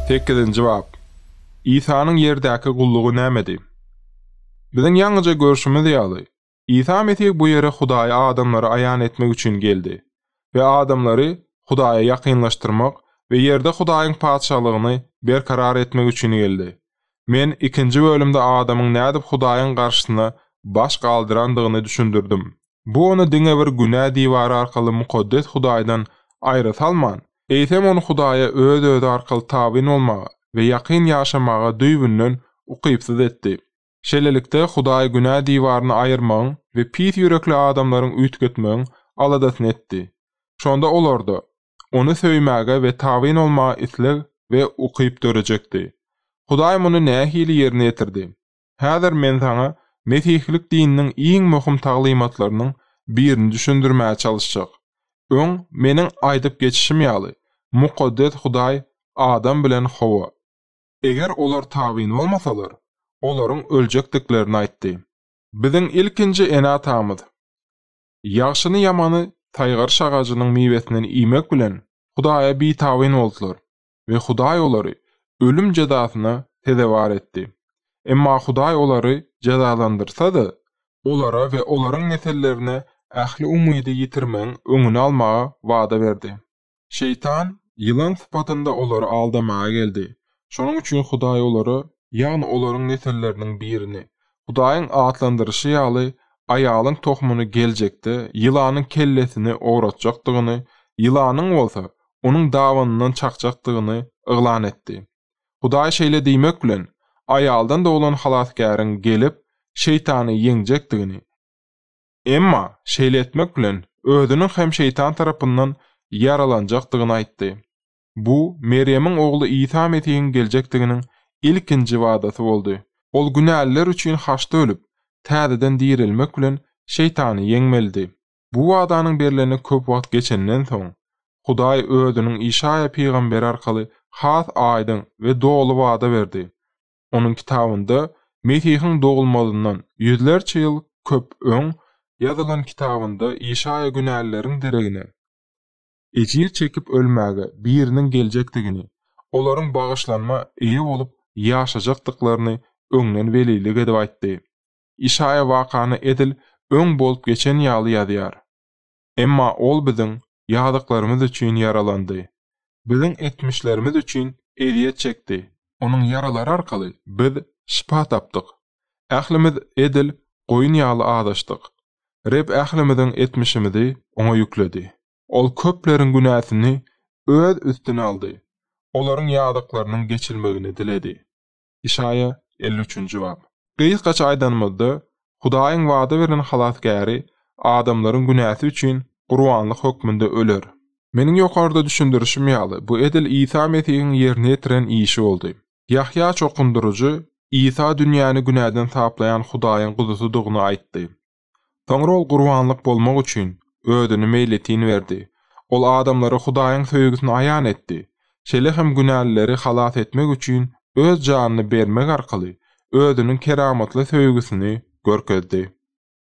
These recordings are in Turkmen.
Sekizinji bap. Isanyň ýerdäki gullugy nämedi? Biziň ýaňyja görşümiz ýaly, Isa Mesih bu ýere Hudaýy adamlara aýan etmek üçin geldi we adamlary Hudaýa ýakynlaşdyrmak we ýerde Hudaýyň Patyşalygyny berkarar etmek üçin geldi. Men ikinji bölümde adamyň nädip Hudaýyň garşysyna baş galdyrandygyny düşündirdim. Bu ony diňe bir günä diwary arkaly mukaddes Hudaýdan aýra salman, eýsem ony Hudaýa öz-özi arkaly tabyn bolmaga we ýakyn ýaşamaga düýbünden ukypsyz etdi. Şeýlelikde, Hudaý günä diwaryny aýyrmagyň we pis ýürekli adamlaryň üýtgetmegiň aladasyny etdi. Şonda olarda Ony söýmäge we tabyn bolmaga isleg we ukyp dörejekdi. Hudaý muny nähili ýerine ýetirdi? Häzir men saňa mesihlik dininiň iň möhüm taglymatlarynyň birini düşündirmäge çalyşjak. Öň, meniň aýdyp geçişim ýaly, mukaddes Hudaý Adam bilen Howa. Eger olar tabyn bolmasalar, olaryň öljekdiklerini aýtdy. Biziň ilkinji ene-atamyz, ýagşyny-ýamany saýgaryş agajynyň miwesinden iýmek bilen, Hudaýa bitabyn boldular. we Hudaý olary ölüm jezasyna sezewar etdi. Emma Hudaý olary jezalandyrsady, olara we olaryň nesillerine ähli umydy ýitirmegiň öňüni almagy wada berdi. Şeýtan ýylan sypatynda olary aldamaga geldi. Şonuň üçin Hudaý olara, ýagny olaryň nesilleriniň birini, Hudaýyň atlandyryşy ýaly, aýalyň tohumyny geljekde ýylanyň kellesini ogratjakdygyny, ýylanyň bolsa onuň dabanyndan çakjakdygyny yglan etdi. Hudaý şeýle diýmek bilen, aýaldan doglan Halasgäriň gelip, Şeýtany ýeňjekdigini, emma şeýle etmek bilen, özüniň hem Şeýtan tarapyndan ýaralanjakdygyny aýtdy. Bu Merýemiň ogly Isa Mesihiň geljekdiginiň ilkinji wadasy boldy. Ol günäliler üçin haçda ölüp, täzeden direlmek bilen Şeýtany ýeňmelidi. Bu wadanyň berlene köp wagt geçenden soň, Hudaý Özüniň Işaýa pygamber arkaly has aýdyň we doly wada berdi. Onuň kitabynda Mesihiň dogulmazyndan ýüzlerçe ýyl köp öň ýazylan kitabynda Işaýa günälileriň deregine ejir çekip ölmäge biriniň geljekdigini, olaryň bagyşlanma eýe bolup ýaşajakdyklaryny öňden welilik edip aýtdy. Işaýa wakany edil öň bolup geçen ýaly ýazýar. Emma ol biziň ýazyklarymyz üçin ýaralandy. Biziň etmişlerimiz üçin ezýet çekdi. Onuň ýaralary arkaly biz şypa tapdyk. Ählimiz edil goýun ýaly azaşdyk. Reb ählimiziň etmişimizi Oňa ýükledi. Ol köpleriň günäsini Öz üstüne aldy, olaryň ýazyklarynyň geçilmegini diledi. Işaýa elli üçünji bap. Gysgaça aýdanymyzda, Hudaýyň wada beren Halasgäri adamlaryň günäsi üçin gurbanlyk hökmünde öler. Meniň ýokarda düşündirişim ýaly, bu edil Isa Mesihiň ýerine ýetiren işi boldy. Ýahýa çokundyryjy Isa dünýäni günäden saplaýan Hudaýyň Guzusydygyny aýtdy. Soňra ol gurbanlyk bolmak üçin özüni meýletin berdi. Ol adamlara Hudaýyň söýgüsini aýan etdi. Şeýle hem günälileri halas etmek üçin öz janyny bermek arkaly özüniň keramatly söýgüsini görkezdi.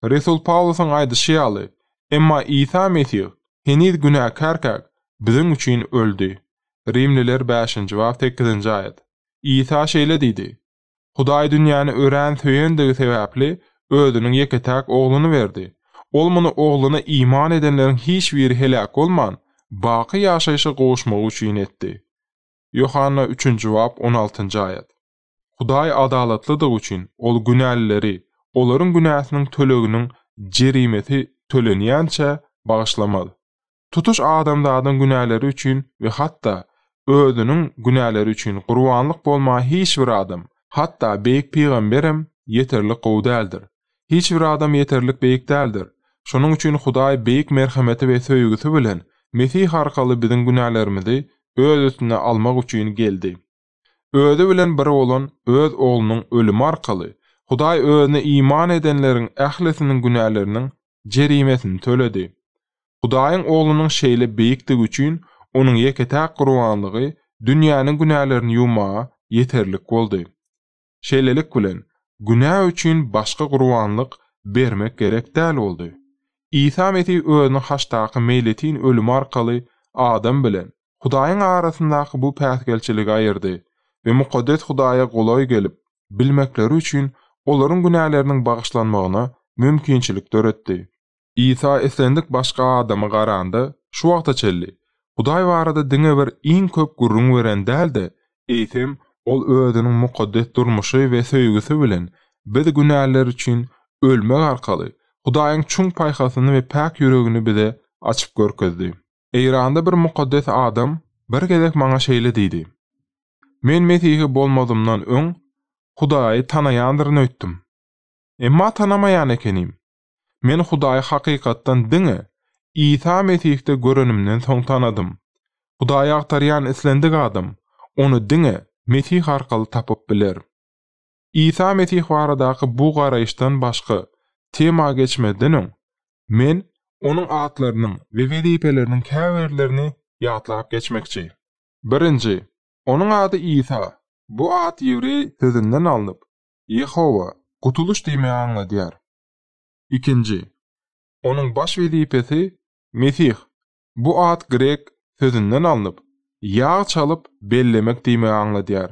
Resul Pawlusyň aýdyşy ýaly, emma Isa Mesih heniz günäkärkäk biziň üçin öldi. Rimliler bäşinji bap sekizinji aýat. Isa şeýle diýdi, Hudaý dünýäni örän söýendigi sebäpli, Özüniň ýeke-täk Ogluny berdi. Ol muny Ogluna iman edenleriň hiç biri heläk bolman, baky ýaşaýşa gowuşmagy üçin etdi. Ýohanna üçünji bap on altynjy aýat. Hudaý adalatlydygy üçin, Ol günälileri, olaryň günäsiniň töleginiň jerimesi tölenýänçä, bagyşlamaz. Tutuş adamzadyň günäleri üçin we hatda özüniň günäleri üçin gurbanlyk bolmaga hiç bir adam, hatda beýik pygamberem ýeterlik gowy däldir. Hiç bir adam ýeterlik beýik däldir. Şonuň üçin Hudaý beýik merhameti we söýgüsi bilen Mesih arkaly biziň günälerimizi öz üstüne almak üçin geldi. Özi bilen bir bolan Öz Oglunyň ölümi arkaly Hudaý Özüne iman edenleriň ählisiniň günäleriniň jerimesini töledi. Hudaýyň Oglunyň şeýle beýikdigi üçin Onuň ýeke-täk gurbanlygy dünýäniň günälerini ýuwmaga ýeterlik boldy. Şeýlelik bilen, günä üçin başga gurbanlyk bermek gerek däl boldy. Isa Mesih özüniň haçdaky meýletin ölümi arkaly adam bilen Hudaýyň arasyndaky bu päsgelçiligi aýyrdy we mukaddes Hudaýa golaý gelip bilmekleri üçin olaryň günäleriniň bagyşlanmagyna mümkinçilik döretdi. Isa islendik başga adama garanda, şu wagta çenli Hudaý barada diňe bir iň köp gürrüň beren däl-de, eýsem, ol özüniň mukaddes durmuşy we söýgüsi bilen biz günäliler üçin ölmek arkaly Hudaýyň çuň paýhasyny we päk ýüregini bize açyp görkezdi. Eýranda bir mukaddes adam bir gezek maňa şeýle diýdi, Men mesihi bolmazymdan öň Hudaýy tanaýandyryn öýtdüm. Emma tanamaýan ekenim. Men Hudaýy hakykatdan diňe Isa Mesihde görenimden soň tanadym. Hudaýy agtarýan islendik adam Ony diňe Mesih arkaly tapyp biler. Isa Mesih baradaky bu garaýyşdan başga tema geçmezden öň, men, Onuň atlarynyň we wezipeleriniň käbirlerini ýatlap geçmekçi. Birinji, Onuň ady Isa. Bu at ýewreý sözünden alnyp, Ýehowa, gutulyş diýmegi aňladýar. Ikinji, Onuň baş wezipesi, Mesih, bu at grek sözünden alnyp, ýag çalyp bellemek diýmegi aňladýar.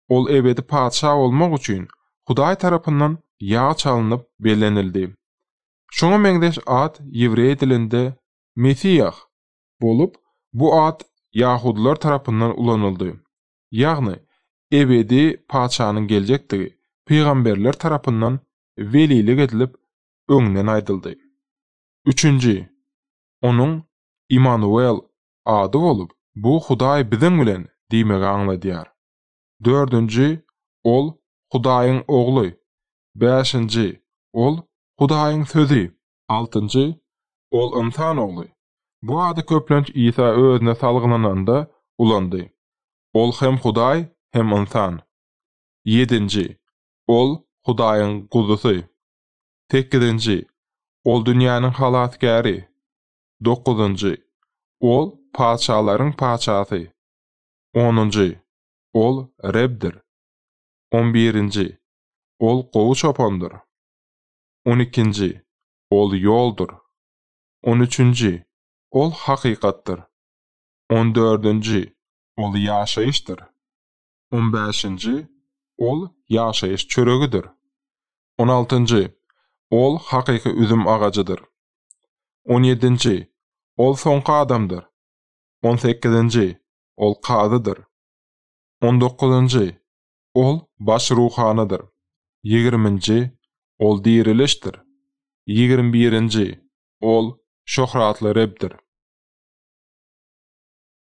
Ol ebedi Patyşa bolmak üçin, Hudaý tarapyndan ýag çalynyp bellenildi. Şuňa meňzeş at ýewreý dilinde Mesiýah bolup, bu at ýahudylar tarapyndan ulanyldy. ýagny ebedi Patyşanyň geljekdigi pygamberler tarapyndan welilik edilip öňden aýdyldy. Üçünji, Onuň Imanuwel ady bolup, bu Hudaý biziň bilen diýmegi aňladýar. Dördünji, Ol, Hudaýyň Ogly. Bäşinji, Ol, Hudaýyň Sözi. Altynjy, Ol ynsan ogly. Bu ady köplenç Isa özüne salgylananda ulandy. Ol hem Hudaý, hem ynsan. Ýedinji, Ol, Hudaýyň Guzusy. Sekizinji, Ol dünýäniň Halasgäri. Dokuzynjy, Ol, patyşalaryň Patyşasy. Onunjy, Ol, Rebdir. On birinji, Ol gowy çopandyr. On ikinji, Ol ýoldur. On üçünji, Ol hakykatdyr. On dördünji, Ol ýaşaýyşdyr. On bäşinji, Ol ýaşaýyş çöregidir. On altynjy, Ol hakyky üzüm agajydyr. On ýedinji, Ol soňky adamdyr. On sekizinji, Ol kazydyr. On dokuzynjy, Ol baş ruhanydyr. Ýigriminji, Ol dirilişdir. Ýigrimi birinji, Ol şöhratly Rebdir.